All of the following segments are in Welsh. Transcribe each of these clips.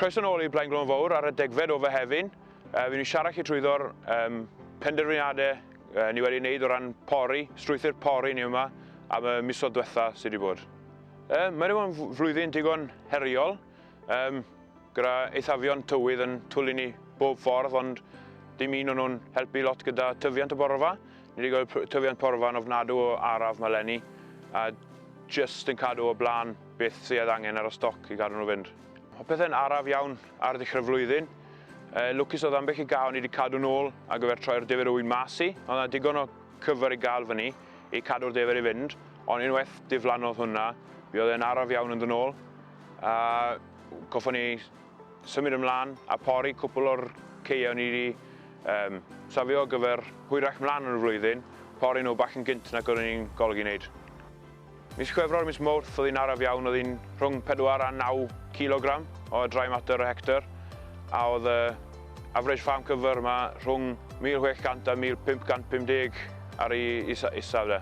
Croeso nôl i Blaen Glôn Fawr ar y degfed o Fehefin. Uh, Fy ni'n siarad chi trwyddo'r um, penderfyniadau uh, ni wedi wneud o ran pori, strwythyr pori ni yma am y misoedd diwetha sydd wedi bod. Uh, mae wedi bod yn flwyddyn digon heriol. Um, Gyda eithafion tywydd yn twlu ni bob ffordd ond dim un o'n nhw'n helpu lot gyda tyfiant y borfa. Ni wedi gweld tyfiant porfa yn ofnadw o araf mae lenni a jyst yn cadw o blaen beth sydd angen ar y stoc i gadw nhw fynd. Mae pethau'n araf iawn ar ddechrau'r flwyddyn. E, lwcus oedd ambell i gael ni wedi cadw nôl ar gyfer troi'r defer wy mas i. Oedd yna digon o cyfer i gael fyny i cadw'r defer i fynd, ond unwaith diflannodd hwnna, mi oedd e'n araf iawn yn ddynol. A Goffon ni symud ymlaen a pori cwpl o'r caeau ni wedi um, safio ar gyfer hwyrach mlaen yn y flwyddyn, pori nhw bach yn gynt nag oeddwn ni'n golygu wneud. Mis Chwefror a mis Mawrth oedd hi'n araf iawn, oedd hi'n rhwng 4 a 9 kilogram o dry mater y hector, a oedd y average farm cover yma rhwng 1600 a 1550 ar ei isaf de.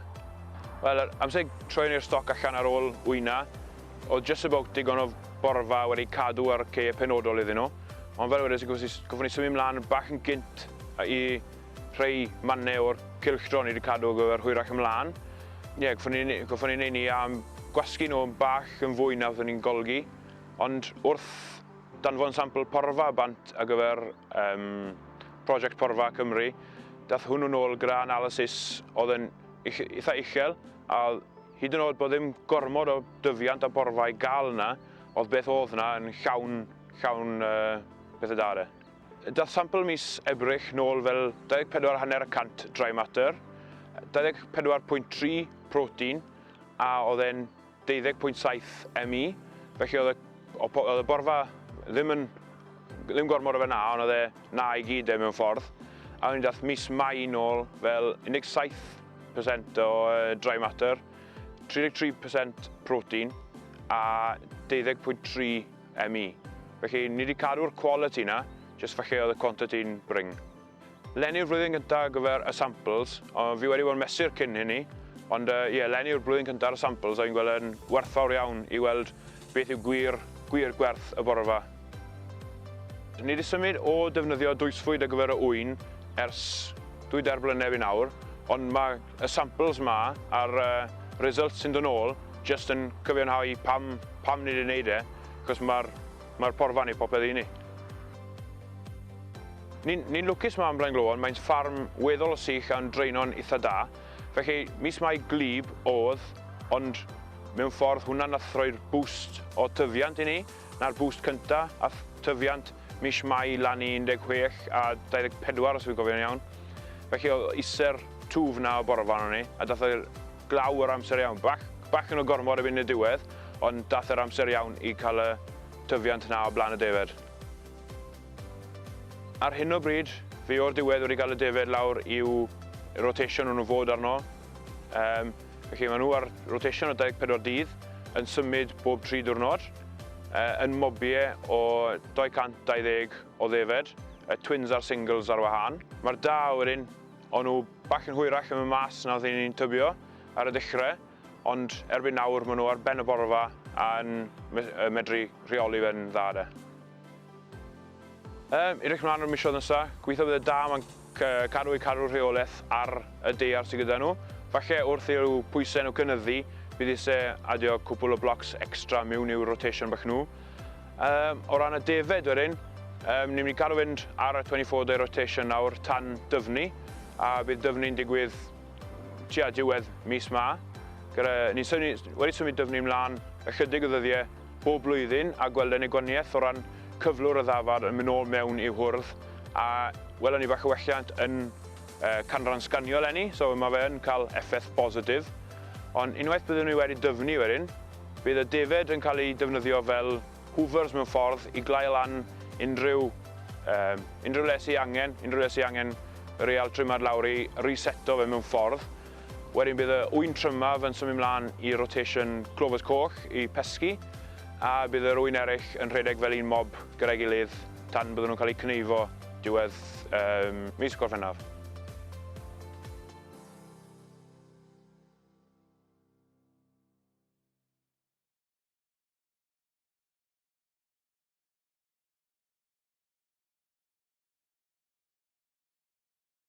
Wel, amser troi ni'r stoc allan ar ôl wyna, Oedd just about digon o borfa wedi cadw ar caeau penodol iddyn nhw, ond fel wedes i goffwn i symud mlan bach yn gynt i rhei mannau o'r cylchdro o'n i wedi cadw ar gyfer hwyrach ymlan. Ie, goffwn i neud ni am gwasgu nhw bach yn fwy na fyddwn i'n golgi, ond wrth danfon sampl porfa bant ar gyfer um, prosiect Porfa Cymru, dath hwnnw nôl gyda analysis oedd yn eitha uchel, a Hyd yn oed bod ddim gormod o dyfiant a borfa i gael yna, oedd beth oedd yna yn llawn, llawn uh, pethau da de. Dath sampl mis Ebrill nôl fel 24 hanner y cant dry matter, 24.3 protein a oedd e'n 20.7 ME, felly oedd y, oedd y borfa ddim yn, ddim gormod o fe na, ond oedd e Na i gyd de mewn ffordd. A o'n i dath mis Mai nôl fel 17% o dry matter, 33% protein a 12.3 ME. Felly ni wedi cadw'r quality na, jyst falle oedd y quantity'n bring. Len yw'r flwyddyn gyntaf ar gyfer y samples, ond fi wedi bod yn mesur cyn hynny, ond ie, len yw'r blwyddyn cyntaf ar y samples a fi'n gweld e'n werthfawr iawn i weld Beth yw gwir, gwir gwerth y borfa? Ni wedi symud o ddefnyddio dwysfwyd ar gyfer y ŵyn ers dwy dair blynedd i nawr, ond mae y samples ma a'r results sy'n dod nôl jyst yn cyfiawnhau pam pam ni wedi wneud e, achos mae'r mae'r porfa yn ei popeth i ni. Ni'n ni'n lwcus ma ym Mlaengloan, mae'n ffarm weddol o sych a'n draenon itha da, Felly, mis Mai gwlyb oedd, ond mewn ffordd hwnna nath roi'r boost o tyfiant i ni, na'r boost cynta, ath tyfiant mis Mai lan i 16 a 24 os fi'n cofio'n iawn. Felly oedd ise'r twf 'na o bore 'ma arnon ni, a dath e glaw yr amser iawn. Bach, bachan o gormod erbyn y diwedd, ond dath e'r amser iawn i cael y tyfiant 'na o blaen y defaid. Ar hyn o bryd, fi o'r diwedd wedi cael y defaid lawr i'w rotation nhw nhw fod arno. Um, felly maen nhw ar rotation o 24 dydd, yn symud bob 3 diwrnod, uh, yn mobie o 220 o ddefed, y twins a'r singles ar wahân. Mae'r da wedyn, o'n nhw bach yn hwyrach yn y mas na oedd ni'n tybio ar y dechrau, ond erbyn nawr maen nhw ar ben y borfa a'n medru rheoli fe'n dda de. Yym, edrych mlaen o'r misoedd nesa, gobeithio bydd y da ma'n cadw eu cadw'r rheolaeth ar y deiar sydd gyda nhw. Falle wrth i'w pwysau nhw cynyddu, bydd ise adio cwpwl o blocs extra miwn i'w rotation bach nhw. Yym, o ran y defaid wedyn, yym, ni'n mynd i cadw fynd ar y 24 day rotation nawr tan dyfnu, a bydd dyfnu'n digwydd tua diwedd mis ma. Gyda, ni'n symud, wedi symud dyfnu mlaen ychydig o ddyddiau, bob blwyddyn a gweld annigonniaeth o ran cyflwr y ddafad yn mynd nôl mewn i'w hwrdd a welon ni bach o welliant yn canran sganio eleni, so mae fe yn cael effaith bositif. Ond unwaith byddwn ni wedi dyfnu wedyn, bydd y defaid yn cael eu defnyddio fel hoovers mewn ffordd i glau lan unrhyw unrhyw le sy angen, unrhyw le sy angen real trimad lawr i reseto fe mewn ffordd. Wedyn bydd y ŵyn trymaf yn symud mlaen i rotation clovers coch i pesgi, a bydd yr ŵyn eraill yn rhedeg fel un mob gyda'i gilydd tan bydden nhw'n cael eu cneifo diwedd um, mis Gorffennaf.